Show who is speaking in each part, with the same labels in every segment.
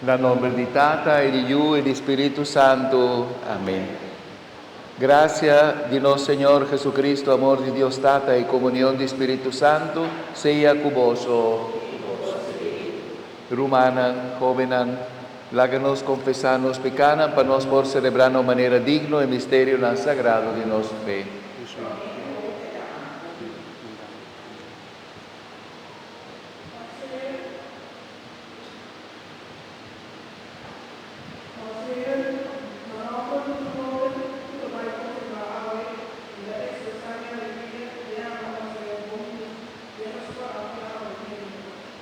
Speaker 1: Na nomber di Tata e di Yu e di Spiritu Santu. Amen. Gracia di nos Señor Jesucristo, amor di Dios Tata i comunion di Spiritu Santu sea cu boso. Rumannan, hobennan. Laga nos konfesá nos pekánan pa nos por selebrá na un manera digno e misterionan sagrado di nos fe.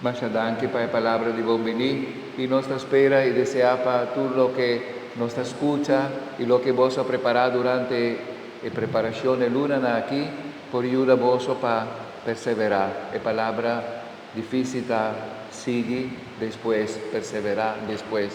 Speaker 1: Masha danki pa e palabra di bon bini y nos ta spera y desea pa tur loke nos ta scucha y loke boso a prepara durante e preparacion e lunanan aki por yuda boso pa persevera. E palabra di fisita sigi despues persevera despues.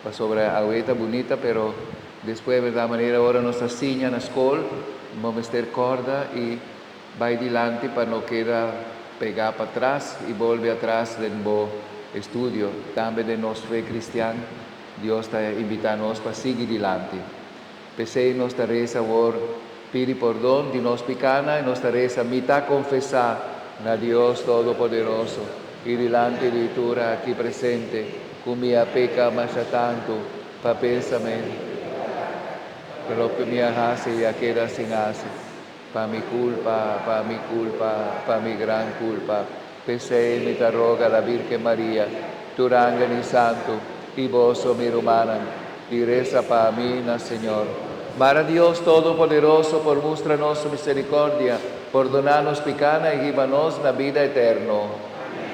Speaker 1: Pasobra awe ta bunita pero despues berdad manera ora nos ta siña na skol bo mester kòrda i bai dilanti pa no keda pegá patras i bolbe atras den bo estudio. Tambe den nos fe kristian Dios ta imbitá nos pa sigui dilanti. P'esei nos ta resa awor, Pidi pordon di nos pikánan, i nos ta resa, Mi ta konfesá na Dios Todopoderoso i dilanti di tur aki presente ku mi a peka masha tantu pa pensamentu, ku loke mi a hasi i a keda sin hasi. Pa mi culpa, pa mi culpa, pa mi gran culpa, p'esey mi ta roga la Virgen Maria, tur angel y santu, y boso mi rumannan, di reza pa mi na Señor. Mara Dios Todopoderoso por mustra nos su misericordia, pordona nos picanan y hiba nos na bida eterno. Amen.